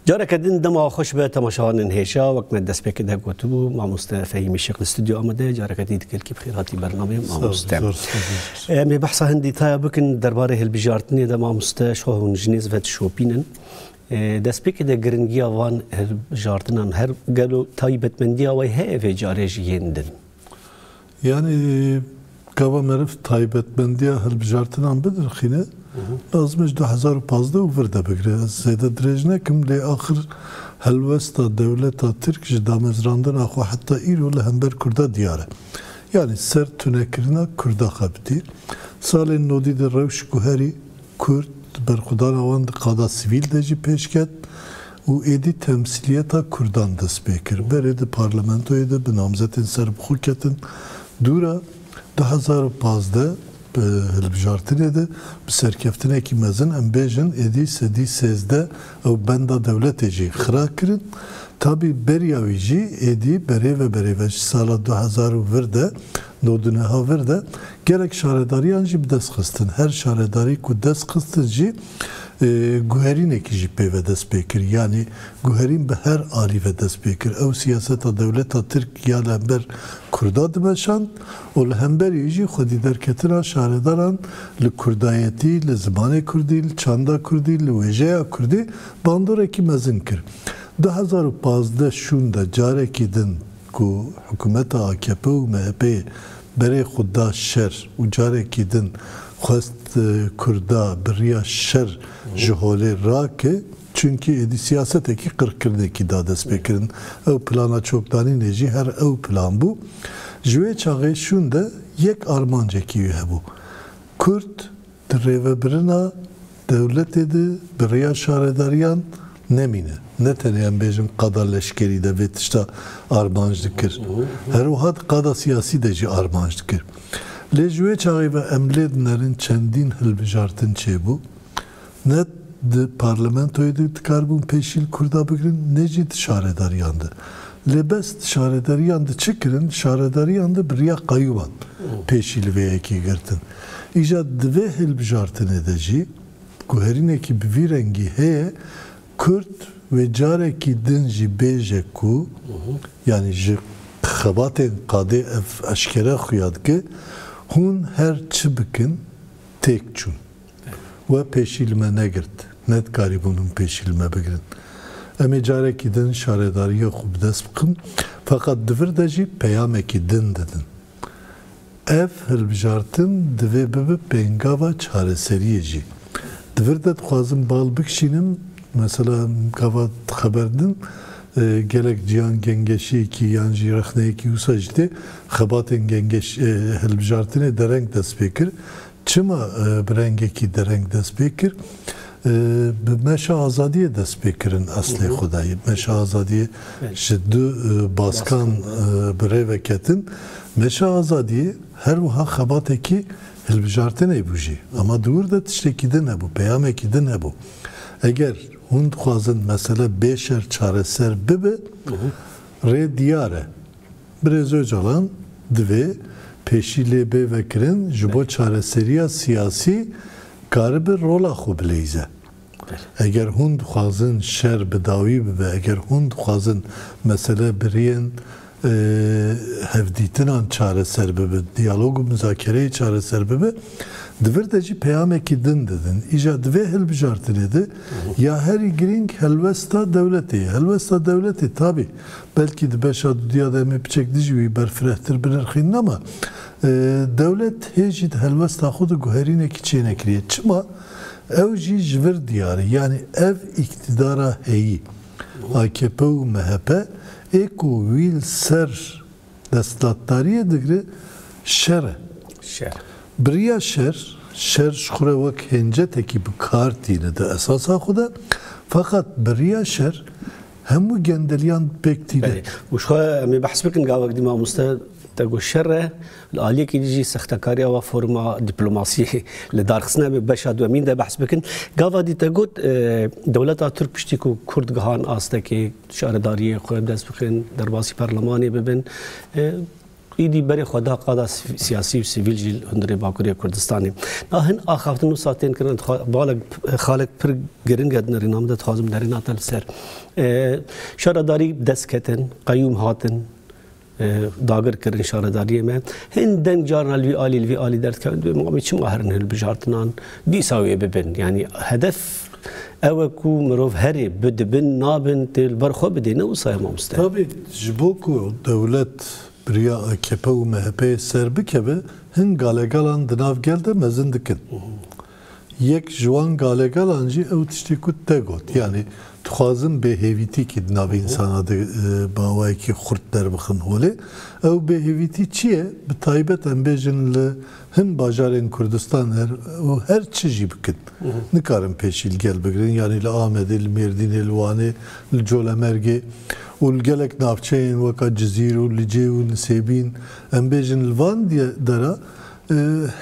Careke din dema xweş be temaşevanên hêşa wek me destpêkê de gotibû mamoste Fehîmî Şêx li stûdyo Amedê careke din dikelkî bi xêr hatî bername mamoste. Em ê behsa hin dîtaya bikin derbarê hilbijartinê de mamoste şoh hûn jinê zivet şopînin. Destpêkê de giringiya van hilbijartinan her gelo taybetmendiya wê heye vê carê ji yên din. Yanî gava meriv taybetmendiya hilbijartinan bidirxîne, lazim e ji du hezar û pazdeh û vir de bigire. Ez zêde dirêj nekim lê axir helwesta dewleta Tirk ji damezrandina xwe heta îro li hember Kurda diyar e. Yanî ser tunekirina Kurda xebitî. Salên nodî de rewş guherî Kurd di berxwedana wan di qada sivîl de jî pêş ket. û êdî temsîliyeta kurdan dest pê kir. Berê di parlamentoyê de bi namzetên serbixwe ketin dûr a du hezar û pazdeh bi hilbijartinê de bi serkeftinekî mezin em bêjin êdî sedî sêzdeh ew benda dewletê jî xira kirin. Tabî beriya wî jî êdî berê ve berê ve ji sala du hezar û vir de Li Ordûneha vir de gelek şaredariyan jî bi dest xistin. Her şaredarî ku dest xistin jî guherînekî jî pê ve dest pê kir. Yanî guherîn bi her alî ve dest pê kir. Ew siyaseta dewleta Tirk ya li hember Kurda dimeşand û li hemberî jî xwedîderketina şaredaran li kurdayetî, li zimanê kurdî, li çanda kurdî, li wêjeya kurdî bandorekî mezin kir. Du hezar û pazdeh şûnde carekî din ku hikûmeta akp û MHP'ê berê xwe da şer û carekî din xwest Kurda bi riya şer ji holê rake çunkî êdî siyasetekî qirkirinekî da destpêkirin ew plana çokdanînê jî her ew plan bû. Ji wê çaxê şûn de yek armancekî wî hebû, Kurd, Di rêvebirina dewletê de bi rêya şaredariyan nemîne. Ne tenê em bêjin qada leşkerî de vê tişta armanc dikir. Her wiha di qada siyasî de jî armanc dikir. Lê ji wê çaxê ve em lê dinerin çendîn hilbijartin çêbû. Ne di parlamentoyê de dikaribûn pêşî li Kurda bigirin ne jî di şaredariyan de. Lê bes di şaredariyan de çi kirin? Di şaredariyan de bi rêya qeyûman pêşî li vê yekê girtin. Îja di vê hilbijartinê de jî guherînekî bi vî rengî heye, Kurd wê carekî din jî bêje ku yanî ji xebatên qadê ev eşkere xuya dike, Hûn her çi bikin têk çûn. We pêşî li me negirt. Nedikarîbûn hûn pêşî li me bigirin. Em ê carekî din şaredariya xwe bi dest bixin. Feqet di vir de jî peyamekî din didin. Ev hilbijartin divê bibe pêngava çareseriyê jî. Di vir de dixwazin bal bikişînin, mesela gava xeber din gelek ciyan gengeşiyekî yan jî rexneyekî wisa jî tê, xebatên hilbijartinê dereng dest pê kir, Çima bi rengekî dereng dest pê kir? Bi meşa azadiyê dest pê kirin eslê xwe de. Meşa azadiyê ji du baskan bi rê ve ketin. Meşa azadiyê her wiha xebatekî hilbijartinê bû jî. Ama di wir de tiştekî din hebû, peyamekî din hebû. Eger hûn dixwazin mesele bê şer çareser bibe, rê diyar e. Birêz Ocalan, Divê pêşî lê bê vekirin ji bo çareseriya siyasî karibe rola xwe bileyze. Eger hûn dixwazin şer bi dawî bibe, eger hûn dixwazin mesele bi rêyên hevdîtinan çareser bibe, diyalog û muzakereyê çareser bibe, di vir de jî peyamekî din didin. Îja di vê hilbijartinê de ya herî girîng helwesta dewletê ye. Helwesta dewletê tabî Belkî di beşa duduya de em ê piçek dijî wî berfirehtir binirxînin ama dewlet hê jî di helwesta xwe de guherînekî çênekiriye. Çima? Ew jî ji vir diyar e. Yanî ev îktîdara heyî, akp û mhp, ê ku wî li ser desthilatdariyê digre şer e. Şer. Biriya şer, şer ji xwe re wek hêncetekî bi kar tîne di esasa xwe de. Feqat biriya şer Hemû gendeliyan pêk tî de. Û jixwe em ê behs bikin gavek di mamoste te got şer e, li aliyekî di jî sextekariya wa foruma dîplomasiyê li dar xistine bi beşa duemîn de behs bikin. Gava dî te got dewleta Tirk piştî ku Kurd gihan astekê şaredariyê xwe dest bixin derbasî perlemanê bibin, Êdî berê xwe da qada siyasî û sivîl jî li hundirê Bakurê Kurdistanê. Da hin axaftin wisa tên kirin. Balek xalek pir giring e di nirêna min de dixwazim nerêna te li ser. Şaredarî dest ketin, qeyûm hatin dagir kirin şaredariyê me. Hin deng carna li vî alî li vî alî derdikevin dibê mamê çima herin hilbijartinan dîsa wê bibin. Yanî hedef Ew e ku mirov herê bi dibin nabin tê li ber xwe bidê ne wisa ye mamoste. Tabi ji bo ku dewlet bi riya akp û MHP'ê serbikeve hin galegalan di nav gel de mezin dikin. Yek ji wan galegalan jî ew tiştê ku tu te got yanî dixwazin bêhêvîtîkî di navê însanan de bi awayekî xurt derbixin holê. Ew bêhêvîtî çi ye? Bi taybet em bêjin li Hin bajarên Kurdistanê her çi jî bikin, nikarin pêşî li gel bigirin, yanî li Amedê, li Mêrdînê, li Wanê, li Colemergê û li gelek navçeyên weka Cizîr û Licê û Nisêbîn, em bêjin li van de re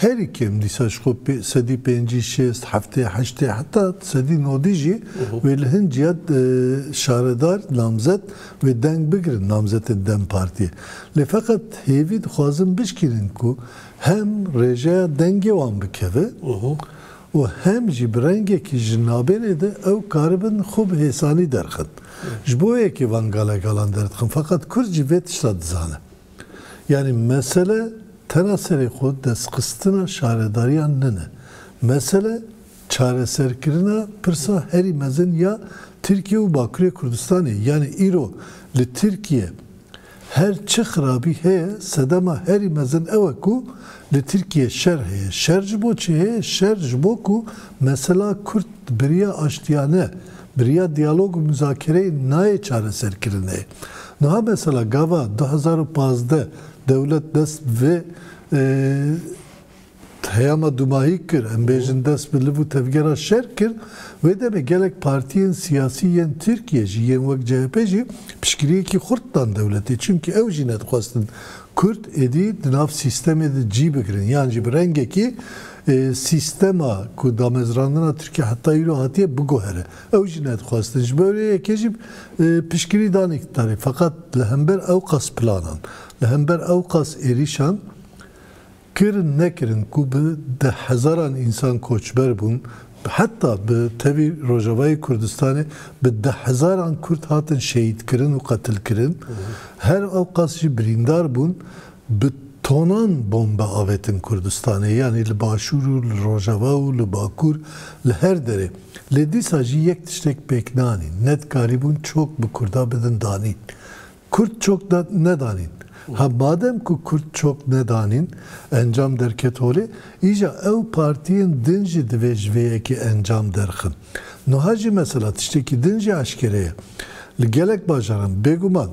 herî kêm dîsa ji xwe sedî pêncî, şêst, heftê, heştê heta sedî nodî jî wê li hin ciya şaredar, namzet, Wê deng bigirin namzetên dem Partiyê. Lê feqet hêvî dixwazin bişkînin ku hem rêjeya dengê wan bikeve û hem jî bi rengekî ji nabênê de ew karibin xwe bi hêsanî derxin. Ji bo yekê van galegalan derdixin feqet kurd jî vê tişta dizane. Yanî mesele tena serê xwe destxistina şaredariyan nine. Mesele. Çareserkirina pirsa herî mezin ya Tirkiye û Bakurê Kurdistanê yanî îro li Tirkiye her çi xirabî heye sedema herî mezin ew e ku li Tirkiye şer heye. Şer ji bo çi heye? Şer ji bo ku mesela Kurd biriya aştiyane, biriya diyalog û muzakereyê nayê çareserkirinê. Niha mesela gava du hezar û pazdeh dewlet dest bi vê Peyama dûmahî kir, em bêjin dest bi liv û tevgera şer kir, wê demê gelek partiyên siyasî yên Tirkiyê jî yên wek CHP jî piştgiriyekî xurt dan dewletê çimkî ew jî nedixwestin Kurd êdî di nav sîstemê de cî bigirin yan jî bi rengekî sîstema ku damezrandina Tirkiyê heta îro hatiye biguhere ew jî nedixwestin ji bo rê yekê jî piştgirî dan îktidarê feqet li hember ewqas planan li hember ewqas êrîşan Kirin nekirin ku bi deh hezaran însan koçber bûn, heta bi tevî Rojavayê Kurdistanê bi deh hezaran Kurd hatin şehîdkirin û qetilkirin, her ewqas jî birîndar bûn, bi tonan bombe avêtin Kurdistanê, yanî li Başûr û li Rojava û li Bakur, li her derê. Lê dîsa jî yek tiştek pêk nanîn, nedikarîbûn çok bi Kurda bidin danîn. Kurd çok nedanîn. Ha madem ku kurd çok nedanîn, encam derket holê, îja ew partiyên din jî divê ji vê yekê encam derxin. Nuha jî mesela tiştekî din jî eşkere ye. Li gelek bajaran, bêguman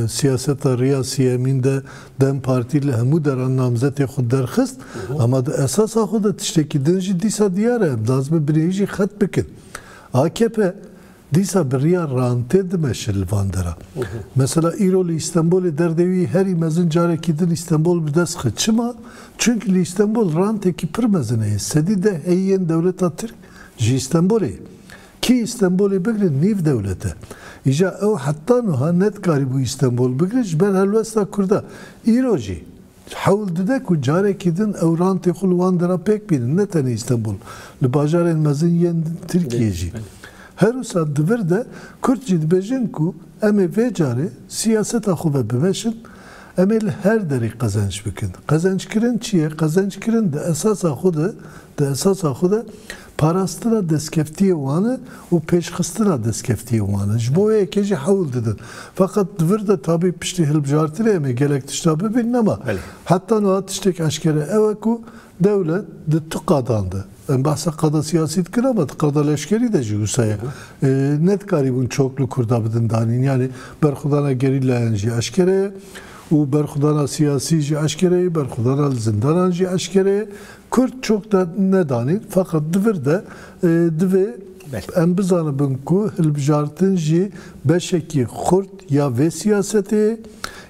siyaseta riya siyemîn de dem partî li hemû deran namzetê xwe derxist, ema di esasa xwe de tiştekî din jî dîsa diyar e, em daz bi bineyî jî xet bikin. Akp. Dîsa bi riya rantê dimeşe li van dera. Mesela îro li Îstenbolê derdê wî herî mezin carekî din Îstenbol bi dest xwe. Çima? Çunki li Îstenbol rantekî pir mezin heye. Sedî deh heyîyên dewleta Tirk ji Îstenbolê ye. Kî Îstenbolê bigire nîv dewlet e. Îja ew heta nuha ne dikarîbû Îstenbol bigire ji ber helwesta Kurda. Îro jî. Hewl dide ku carekî din ew rantê xwe li wan dera pêk bînin, ne tenê Îstenbul, li bajarên mezin yên Tirkiyê jî. Herwisa di vir de Kurd jî dibêjin ku em ê vê carê siyaseta xwe ve biweşin, em ê li her derê qezenç bikin. Qezençkirin çi ye? Qezençkirin di esasa xwe de, di esasa xwe de parastina destkeftiyê wan e û pêşxistina destkeftiyê wan e. Ji bo wê yekê jî hewl didin. Feqet di vir de tabî piştî hilbijartinê em ê gelek tişta bibînin ama heta niha tiştêk eşkere ew e ku dewlet di tu qadan de, em behsa qada siyasî dikin ama di qada leşkerî de jî wisa ye, nedikarîbûn çok li Kurda bidin danîn. Yanî berxwedana gerîlayan jî eşkere ye û berxwedana siyasî jî eşkere ye, berxwedana li zindanan jî eşkere ye. Kurd çok de nedanî feqet di vir de divê em bizanibin ku hilbijartin jî beşekî xurt ya vê siyasetê ye.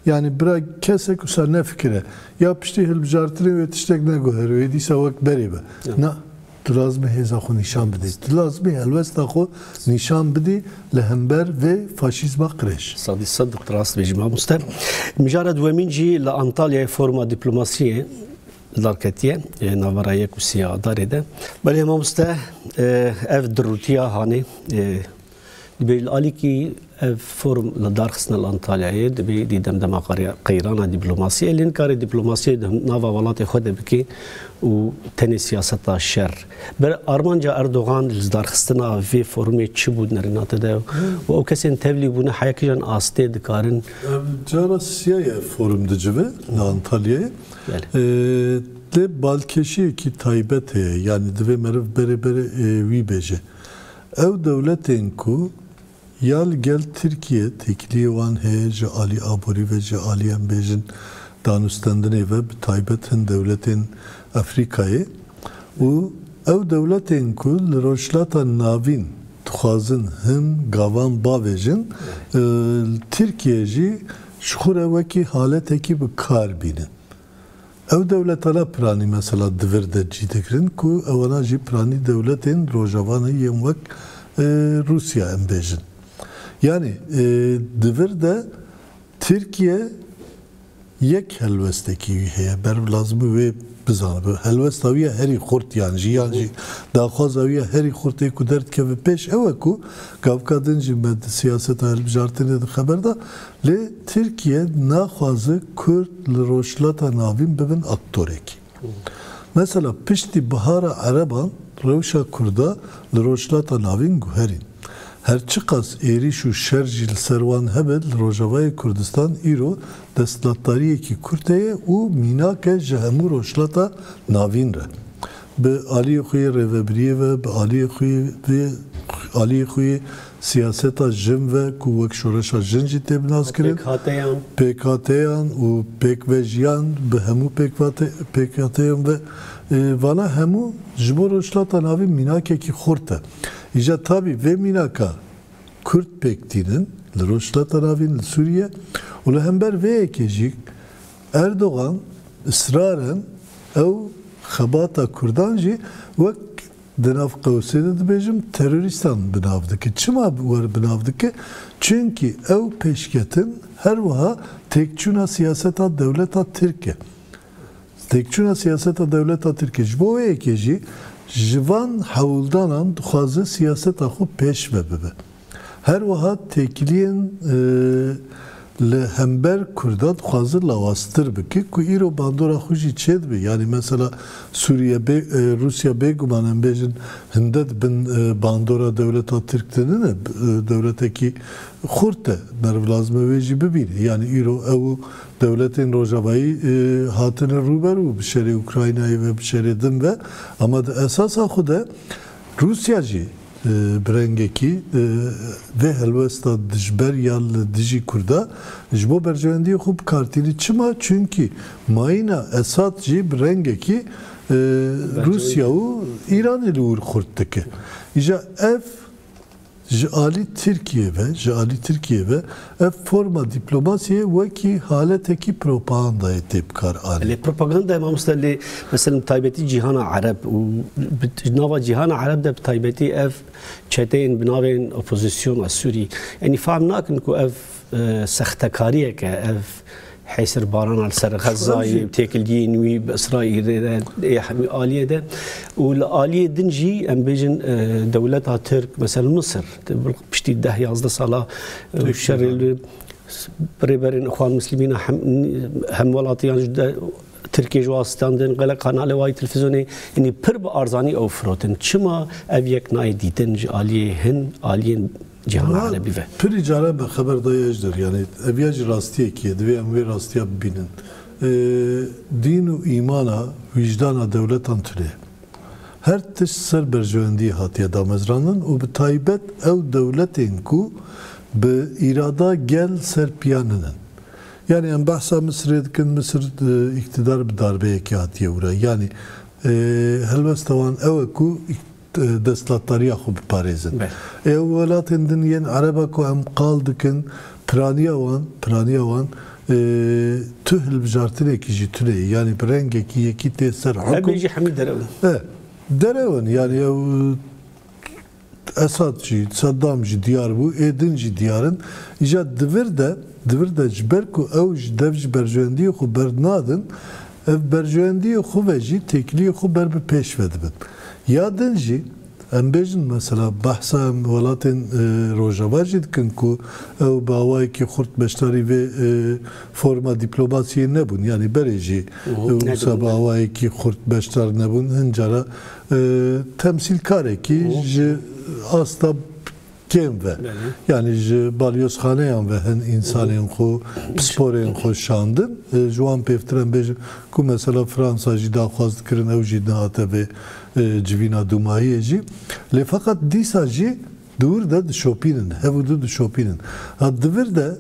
Yanî bira kesek wisa nefikire ya piştî hilbijartinê wê tiştek neguherî wê dîsa wek berê be. Na, tu lazim e hêza xwe nîşan bidî. Tu lazim e helwesta xwe nîşan bidî li hember vê faşîzma qirêj. Sedî sed rast bêjî mamoste. Mijara duwemîn jî li Antalyayê foruma dîplomasiyê Li darketiye navbera yek û sî ya darê de. Belê mamoste ev dirûtiya hanê dibê li alîkî ev forum li darxistina li Antalyayê dibê dî demdema qeyrana dîplomasiyê lê nikare dîplomasiyê di nava welatê xwe de bike û tenê siyaseta şer ber armanca Erdogan li darxistina vê forumê çi bû nerînate de û ew kesên tevlî bûne heya kijan astê dikarin cara siya ye forum dicive li Antalyayê Lê balkêşiyekî taybet heye, yanî divê meriv berê berê wî bêje. Ew dewletên ku ya li gel Tirkiyê têkiliyê wan heye ji alî aborî ve, ji alî em bêjin danûstendinê ve, bi taybet hin dewletên Efrîkayê û ew dewletên ku li Rojhilata Navîn dixwazin hin gavan bavêjin, li Tirkiyê jî Ji xwe re wekî haletekî bi kar bîne. Ew dewletana piranî mesela di vir de cî digirin ku ewana jî piranî dewletên rojavanê yên wek Rûsya em bêjin. Yanî di vir de Tirkiye yek helwestekî wî heye ber lazim e wê Bizanibe helwesta wî ya herî xurt yan jî yan jî daxwaza wî ya herî xurt ê ku derdikeve pêş ew e ku gavka din jî me di siyaseta hilbijartinê de xeber da lê Tirkiye naxwaze Kurd li Rojhilata Navîn bibin aktorekî. Mesela piştî Bihara Ereban rewşa Kurda li Rojhilata Navîn guherîn. Her çiqas êrîş û şer jî li ser wan hebe li Rojavayê Kurdistan îro Desthilatdariyekî Kurte ye û mînak e ji hemû Rojhilata Navîn re. Bi aliyê xwe yê rêvebiriyê ve, bi aliyê xwe yê vê aliyê xwe yê siyaseta jin ve ku wek şoreşa jin jî tê binaskirin, pêkhateyan û pêkvejiyan bi hemû pêkhateyan ve vana hemû ji bo Rojhilata Navîn mînakekî xurt e. Îja tabî vê mînaka Kurd pêk tînin li Rojhilata Ravîn li Sûriye û li hember vê yekê jî Erdogan israren ew xebata Kurdan jî wek di nav qewsê de dibêjim terorîstan bi nav dike. Çima wer bi nav dike? Çunkî ew pêşketin her wiha têkçûna siyaseta dewleta Tirk e. Têkçûna siyaseta dewleta Tirkiyê ji bo wê yekê jî ji van hewldanan dixwaze siyaseta xwe pêşve bibe. Her wiha têkiliyên li hember Kurdan dixwaze lawaztir bike ku îro bandora xwe jî çêdibe. Yanî mesela Sûriye bê Rûsya bêguman em bêjin hinde di bin bandora dewleta Tirk de nine. Dewletekî xurt e. Meriv lazim e wê jî bibîne. Yanî îro ew û Dewletên rojavayî hatine rûberû bi şerê Ukraynayê ve, bi şerê din ve ama di esasa xwe de Rûsya jî bi rengekî vê helwesta dijber ya li dijî Kurda ji bo berjewendiyê xwe bikartîne. Çima? Çimkî mayîna Esad jî bi rengekî Rûsya û Îranê li wir xurt dike. Îja ev. Ji alî Tirkiyê ve Ji alî Tirkiyê ve ev forma dîplomasiyê wekî haletekî propagandayê tê bikar anîn. Lê propaganda mamoste lê meselem bi taybetî cîhana ereb û bi nava cîhana ereb de bi taybetî ev çeteyên bi navên opozîsyona sûrî enî fehm nakin ku ev Sextekariyek e ev hêsirbarana li ser Xezzayê û têkiliyên wî bi Îsraîlê re yê hemî aliyê de û li aliyê din jî em bêjin dewleta Tirk mesel Misir piştî deh yazdeh sala şerê li rêberên Îxwan Mislîmîn a hemwelatiyan ji Tirkiyê ji wan standin gelek kanalê wayî televîzyonê yanî pir bi arzanî ew firotin. Çima ev yek nayê dîtin ji aliyê hin aliyên cîhana erebî ve. Pirî caran me xeber dayê Ejder yanî ev ya jî rastiyekî ye divê em wê rastiya bibînin. Dîn û îmana wîjdana dewletan tune. Her tişt ser berjewendiyê hatiye damezrandin û bi taybet ew dewletên ku bi îrada gel ser piya ninin. Yanî em behsa Misirê dikin, Misir îktidar bi darbeyekê hatiye wira. Yanî helwesta wan ew e ku îktidar. destlatdariya xwe biparêzin. Ew welatên din yên ereb e ku em qal dikin piraniya wan, piraniya wan tu hilbijartinekî jî tune ye. Yanî bi rengekî yekî tê ser hukm. Hemî jî hemî derew in. E, derew in. Yanî ew Esad jî, Seddam jî diyar bû, ê din jî diyar in. Îja di vir de, di vir de ji ber ku ew ji dev ji berjewendiyê xwe bernadin, Ev berjewendiyê xwe ve jî têkiliyê xwe ber bi pêş ve dibin. Ya din jî em bêjin mesela behsa em welatên rojavar jî dikin ku ew bi awayekî xurt beşdarî vê forma dîplomasiyê nebûn yanî berê jî wisa bi awayekî xurt beşdar nebûn hin cara temsîlkarekî ji asta Kêm ve. Yanî ji balyozxaneyan ve hin însanên xwe, pisporên xwe şandin. Ji wan pêvtir em bêjin ku mesela Fransa jî daxwaz dikirin ew jî nehate vê civîna dûmahiyê jî. Lê feqet dîsa jî di wir de dişopînin. Hev û du dişopînin. Ha di vir de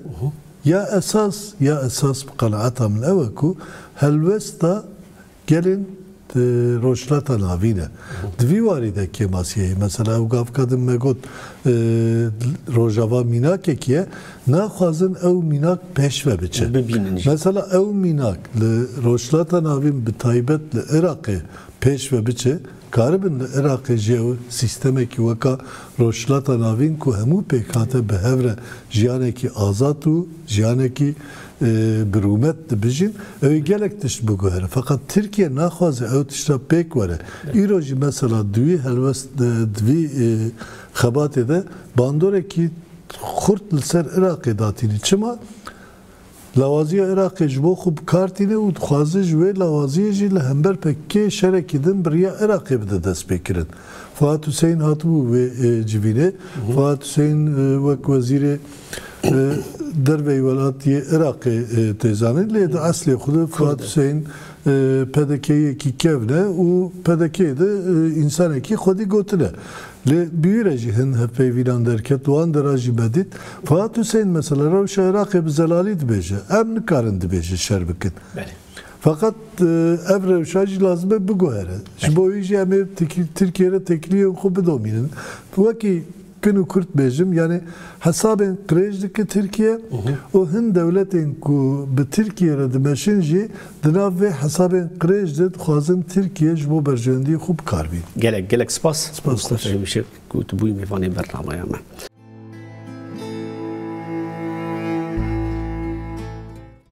ya esas ya esas bi qenaeta min ew e ku helwesta Gelên di rojhilata navîn e. Di vî warî de kêmasiyeyê mesela ew gav ka din me got Rojava mînakekî ye, naxwazin ew mînak pêşve biçe. Mesela ew mînak li rojhilata navîn bi taybet li Iraqê pêşve biçe, Karibin li Iraqê jî ew sîstemekî weka Rojhilata Navîn ku hemû pêkhate bi hev re jiyanekî azad û jiyanekî bi rûmet dibijîn, ew ê gelek tişt biguhere. Feqet Tirkiye naxwaze ew tişta pêk were. Îro jî mesela di wî helwest di vî xebatê de bandorekî xurt li ser Iraqê datînî. Çima? Lawaziya Iraqê ji bo xwe bi kar tîne û dixwaze ji wê lawaziyê jî li hember PKK'ê şerekî din bi riya Iraqê bide destpêkirin. Fuat Huseyîn hatibû vê civînê. Fuat Huseyîn wek Wezîrê Derveyî welatiyê Iraqê tê zanîn lê di eslê xwe de Fuat Huseyîn PDK'yekî kevn e û PDK'yê de însanekî xwedî gotin e. Lê bi wî re jî hin hevpeyvînan derket, wan de ra jî me dît. Fuat Hussein mesela rewşa Iraqê bi zelalî dibêje, em nikarin dibêjin şer bikin. Feqet ev rewşa jî lazim e biguhere. Ji bo wî jî em ê Tirkiyeyê re têkiliyên xwe bidomînin. Wekî. Kin û kurt bêjim yanî hesabên qirêj dike Tirkiye û hin dewletên ku bi Tirkiye re dimeşin jî di nav vê hesabên qirêj de dixwazin Tirkiye ji bo berjewendiyê xwe bikar bînin. Gelek gelek spas Doktor Fehîm Işık ku tu bûyî mêvanê bernameya me.